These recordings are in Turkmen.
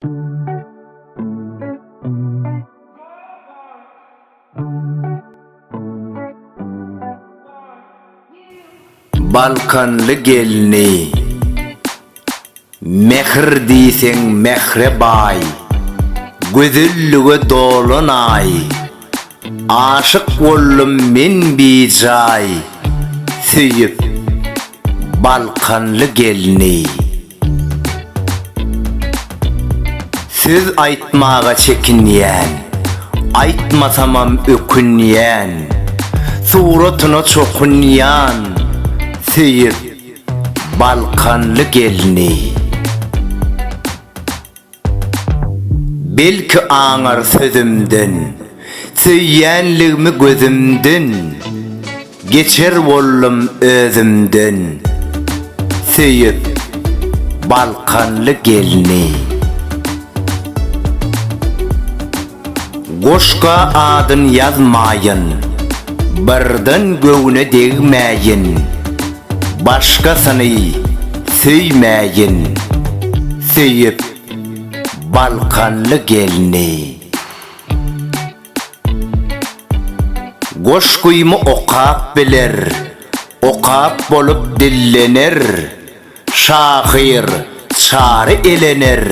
Balkanly gelni Mähir diýseň mähre baý Gözellige dolan aý Aşyk boldum men bijaý Söýüp Balkanly gelni. Söz aýtmaga çekinýän, Aýtmasamam ökünýän, Suratyna çokunýan, Söýüp, balkanly gelni. Belki aňar sözümden, Söýýänligimi gözümden, Geçer boldum özümden. Söýüp, balkanly gelni. Goşga adyn ýazmaýyn, birden göwne degmäýin, başgasyny söýmäýin, söýüp balkanly gelni. Goşgymy okap biler, okap bolup dillener, şahyr Çary elener,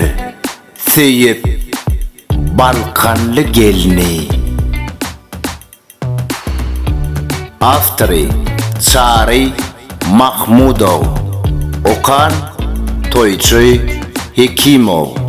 Söýüp balkanly gelni. Awtory, Çary Mahmudow. Okan, Toýçy Hekimow.